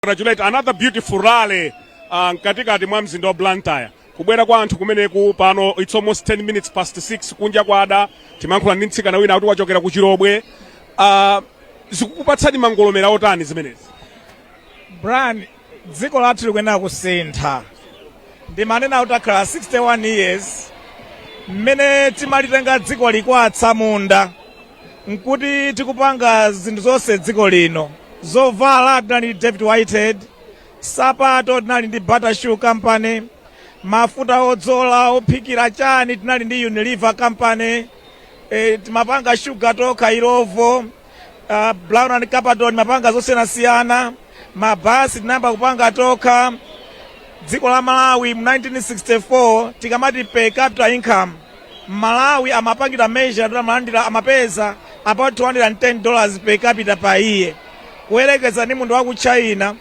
congratulate another beautiful rally uh, mkatikati mwa mzinda wa blantyre kubwera kwa anthu kumeneku pano its almost 10 minutes past 6 kunja kwada timankhula ndi mtsikana wina kuti wachokera ku chilobwe uh, zikukupatsani mangolomera otani zimenezi brian dziko lathu likuyenera kusintha ndimanena kuti takhala 61 years mmene timalitenga dziko li kwa atsamunda nkuti tikupanga zinthu zonse dziko lino zovala tinali ndi david whitehead sapato tinali ndi bata shoe company mafuta odzola ophikira chani tinali ndi unilever company e, timapanga shuga tokha illovo uh, brown and clapperton amapanga zosiyanasiyana mabasi tinayamba kupanga tokha dziko la malawi mu 1964 tikamati per capita income M'malawi amapangidwa measure kuti amalandira, amapeza about 210 dollars per capita per year kuyerekeza ndi munthu wa ku China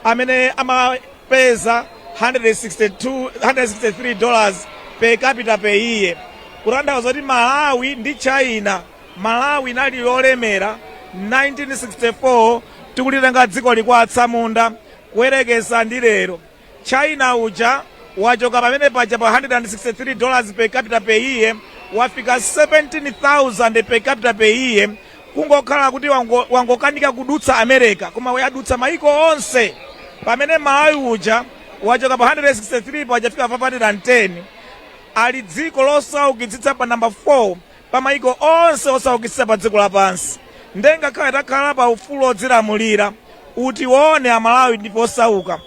amene amapeza 162, 163 dollars per capita per year kutanthauza kuti Malawi ndi China Malawi linali lolemera 1964 tikulitenga dziko li kwa atsamunda kuyerekeza ndi lero China uja wachoka pamene paja pa 163 dollars per capita per year wafika 17,000 per capita per year kungokhala kuti wango- wangokanika kudutsa america koma wayadutsa maiko onse pamene malawi uja wachoka pa 163 paja wafika 510 ali dziko losaukitsitsa pa namba 4 pa mayiko onse osaukitsitsa pa dziko lapansi nde ngakhale takhala pa ufulu odzilamulira utiwone amalawi ndife osauka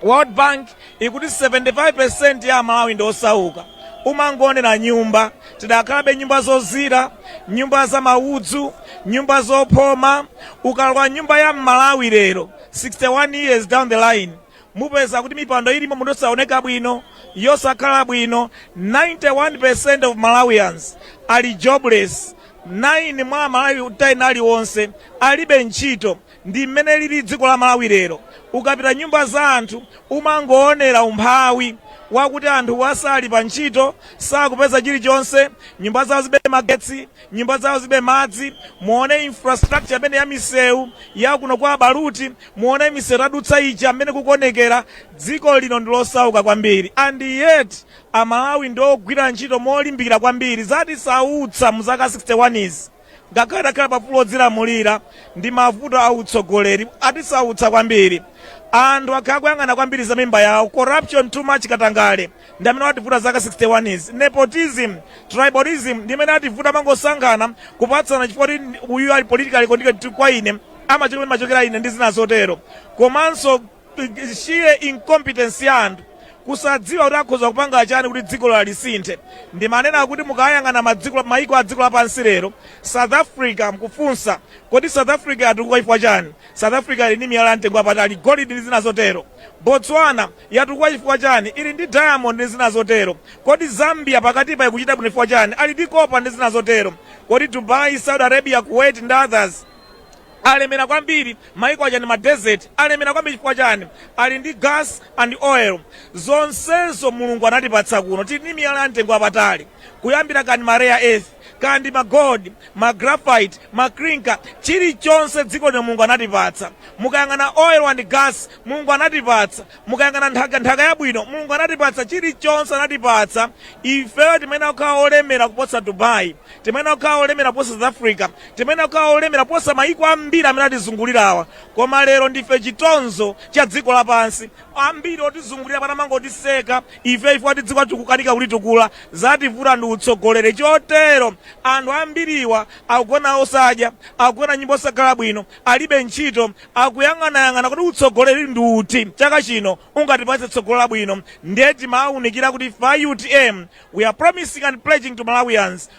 world bank ikuti 75% ya amalawi ndi osauka umangoonera nyumba tidakhalabe nyumba zozira nyumba za maudzu nyumba zophoma ukalowa nyumba ya mmalawi lero 61 years down the line mupeza kuti mipando ilimo muno yosaoneka bwino, yosakhala bwino, 91% of Malawians ali jobless, 9 mwa amalawi 10 aliwonse alibe ntchito, ndi mmene lili dziko la Malawi lero, ukapita nyumba za anthu umangoonera umphawi wakuti anthuwa sali pa ntchito, sakupeza chilichonse, nyumba zawo zibe magetsi, nyumba zawo zibe madzi muone infrastructure amene ya misewu ya kuno kwa abaluti muone misewu tadutsa ija amene kukuonekera dziko lino ndi losauka kwambiri and yet amalawi ndi ogwira ntchito molimbikira kwambiri zatisautsa mu zaka 61 izi ngakhale takhala paufulu odzilamulira ndi mavuto a utsogoleri atisautsa kwambiri anthu akhala kuyang'ana kwambiri za mimba yawo corruption too much katangale ndi amene wativuta zaka 61 izi nepotism tribalism ndi amene ativuta mangosankhana kupatsana chifukwa kuti uyu ali politically connected kwa ine amachokera komwe ndimachokera ine ndi zina zotero komanso eh, sheer incompetence ya anthu kusadziwa kuti akhoza kupanga chani kuti dziko lawo lisinthe ndimanena kuti mukayang'ana maiko a dziko lapansi lero south africa mkufunsa kodi south africa yatukuka chifukwa chani south africa ili ndi miyala ya mtengo wapatali golidi ndi zina zotero botswana Yatukuka chifukwa chani? Ili ndi diamond ndi zina zotero. Kodi Zambia pakatipa ikuchita bwino chifukwa chani? Ali ndi copper ndi zina zotero. Kodi Dubai, Saudi Arabia, Kuwait ndi others alemera kwambiri? Maiko aja ndi ma desert. Alemera kwambiri chifukwa chani? Ali ndi gas and oil. Zonsezo Mulungu anatipatsa kuno. Tili ndi miyala ya mtengo wapatali. Kuyambira kaya ndi ma rare earth. Kaya ndi ma gold, ma graphite, ma clinker, chilichonse dziko lino Mulungu anatipatsa. Mukayang'ana oil and gas, Mulungu anatipatsa. Mukayang'ana nthaka, nthaka yabwino, Mulungu anatipatsa. Chilichonse anatipatsa. Ifeyo timayenera kukhala olemera kuposa Dubai. Timayenera kukhala olemera kuposa South Africa. Timayenera kukhala olemera kuposa mayiko ambiri amene atizungulirawa. Koma lero ndife chitonzo cha dziko lapansi. Ambiri otizungulira pano amangotiseka ife ati dziko tikukanika kulitukula. Zativuta ndi utsogoleri chotero. Anthu ambiriwa akugona osadya, akugona m'nyumba zosakhala bwino, alibe ntchito, akuyang'anayang'ana. Kuti utsogoleri ndi uti chaka chino ungatipatse tsogolo labwino? Ndiye timawaunikira kuti ife a utm we are promising and pledging to Malawians.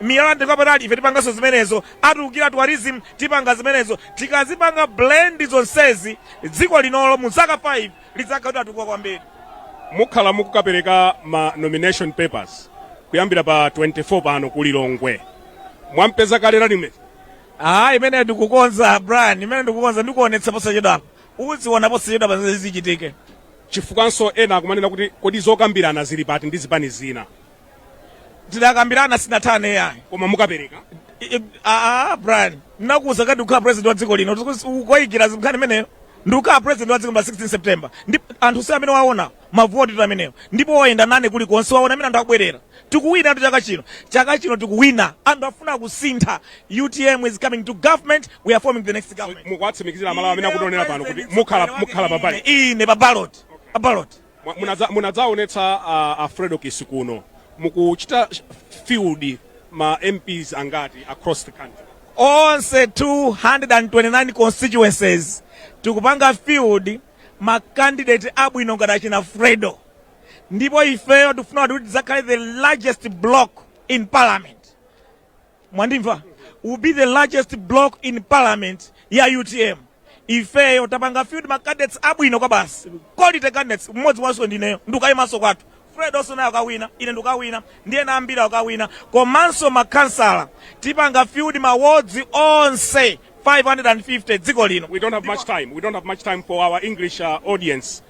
miyala ya mtengo wapatali ife tipanganso zimenezo atukukira tourism tipanga zimenezo tikazipanga blend zonsezi dziko linolo mu zaka 5 lidzakhala kuti latukuka kwambiri mukhala mukukapereka ma nomination papers kuyambira pa 24 pano ku lilongwe mwampeza kale running mate ah imene ndikukonza brian imene ndikukonza ndikuonetsa posachedwapa uziona posachedwapa zichitike chifukwanso ena akumanena kuti kodi zokambirana zili pati ndi zipani zina tidakambirana sizinatheke ayi koma mukapereka I- i- ah, ah, brian ndinakuuza kuti ndikukhala president wa dziko lino ukayikira za nkhani imeneyo ndikukhala president wa dziko lino pa 16 september ndipo anthu si amene waona mavoti tu amenewo ndipo wayenda nane kulikonse waona mmene anthu akubwerera tikuwina tu chaka chino chaka chino tikuwina anthu afuna kusintha utm is coming to government we are forming the next government mukuwatsimikizira amalawi amene akutionera pano kuti mukhala pa ballot ine pa ballot pa ballot Mwa- munadza- munadzaonetsa a, a fredokiss kuno mukuchita field ma mps angati across the country onse 229 constituencies tikupanga field makandidate abwino ngati achina fredo ndipo ifeyo tikufuna kuti tidzakhale the largest block in parliament mwandimva will be the largest block in parliament ya utm ifeyo tapanga field ma candidates abwino kwa basi quality candidates mmodzi wanso ndineyo ndikayimanso kwathu fred nayenso akawina ine ndikawina ndiye ndi ambiri akawina komanso makhansala tipanga field ma wards onse 550 dziko lino We don't have much time. We don't have much time for our English uh, audience.